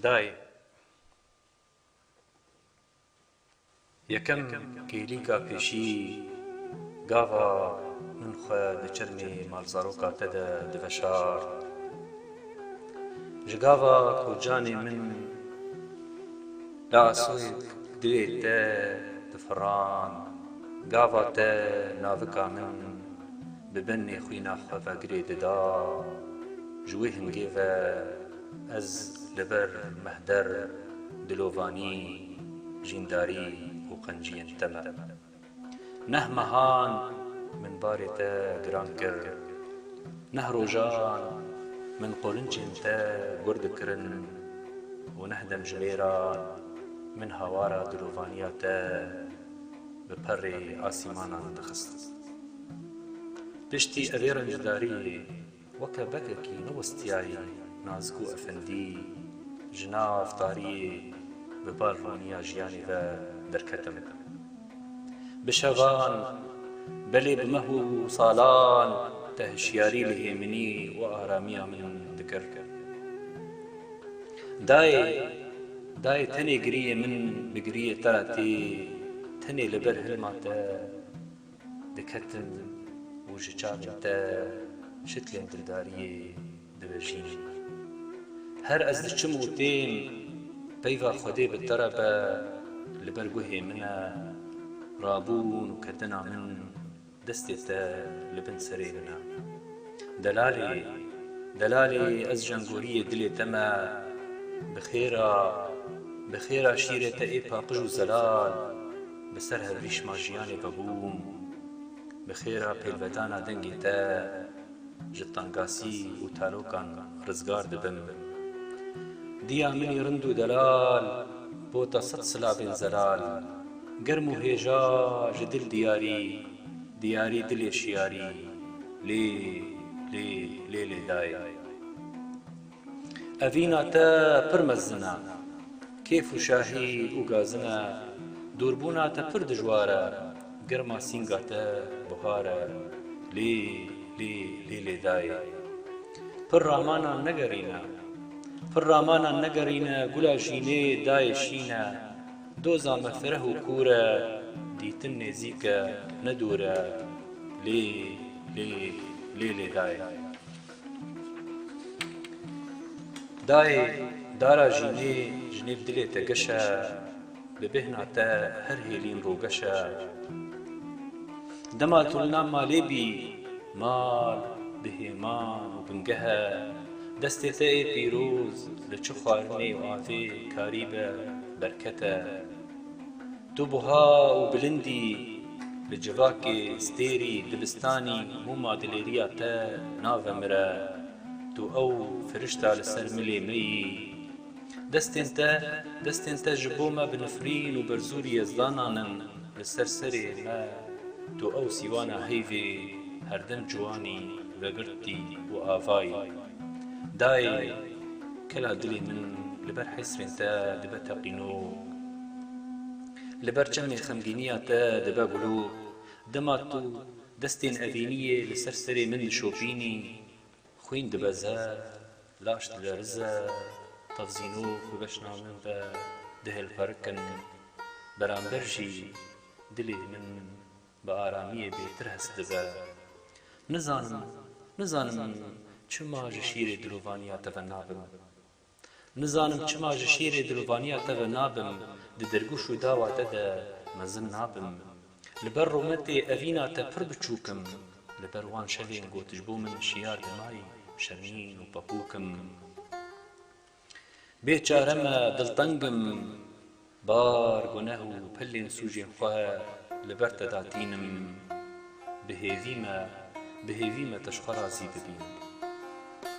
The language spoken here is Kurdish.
Dayê yekem kêlîka pêşî gava min xwe di çirmê malzaroka te de diveşart. Ji gava ku canê min li asûk duyê te difirand, gava te navika min Bi benê xwîna xwe vegirê dida, ji wê hingê ve ez li ber mehder, dilovanî, jîndarî û qenciyên te me. Neh mehan min barê te giran kir, neh rojan min qorinçên te gur dikirin û neh demjimêran min hawara dilovaniya te bi perê asîmanan dixistin. Piştî evê rencdariyê weke bekekî newistiyayî Nazgû Efendî ji nav tariyê bi balhoniya jiyanê ve derketim. Bi şevan, belê bi meh û salan te hişyarî li hêminî û aramiya min dikir. Dayê, dayê tenê giriyê min bi giriyê te re tê, tenê li ber hilma te. diketin û ji çavên te şiklên dildariyê divejînin. Her ez diçim û tên, peyva Xwedê bi te re be, li ber guhê min e, rabûn û ketina min destê te li bin serê min e. Delalê, delalê ez jengoriyê dilê te me, bi xêra, bi xêra şîrê te ê paqij û zelal. Bi ser hevrîşma jiyanê vebûm. Bi xêra pêlvedana dengê te ji tangasî û tarokan rizgar dibim. Diya minî rind û delal bota sed silabên zelal. Germ û hêja ji dil diyarî, diyarî dilê şiyarî lê lê lê lê dayê. Evîna te pir mezin e. Kêf û şahî û gazin e. Dûrbûna te pir dijwar e. Girma sînga te buhar e. Lê lê lê lê dayê. Pir ramanan negerîne. Pir ramanan negerîne gula jînê dayê şîn e. Doza me fireh û kûr e. Dîtin nêzîk e ne dûr e. Lê lê lê lê dayê. Dayê dara jînê ji nêv dilê te geş e, bi bêhna te her hêlîn rogeş e. Dema tu li nav malê bî, mal bi hêman û bingeh e. Destê te ê pîroz li çi xwarinê û avê karî be, berket e. Tu buha û bilind î, li civakê, stêrî, dibistanî, mûma dilêriya te navemire. Tu ew firişta li ser milê me yî. Destên te, destên te ji bo me bi nifrîn û berzûrî ez danan in li ser serê me. Tu ew sîwana heyvê herdem ciwanî vegirtî û avayî. Dayê, kela dilê min li ber hesrên te dibe teqînog. Li ber çemên xemgîniya te dibe gulo, dema tu destên evîniyê li ser serê min dişopînî, xwîn dibe zerd, laş dilerize, tevzîno ku beşna min be dihêlqerikin, beramber jî dilê min bi aramiyê bêtir hest dibe. Nizanim, nizanim çima ji şîrê dilovaniya te ve nabim. Nizanim çima ji şîrê dilovaniya te ve nabim, di dirgûş û dawa te de mezin nabim. Li ber rûmetê evîna te pir biçûk im, li ber wan şevên ku tu ji bo min şiyar dimayî şemîn û pepûk im. Bê çare me, dilteng im, bar, guneh û pilên sûcên xwe li ber te da tînim. Bi hêvî me, bi hêvî me te ji xwe razî bibîn.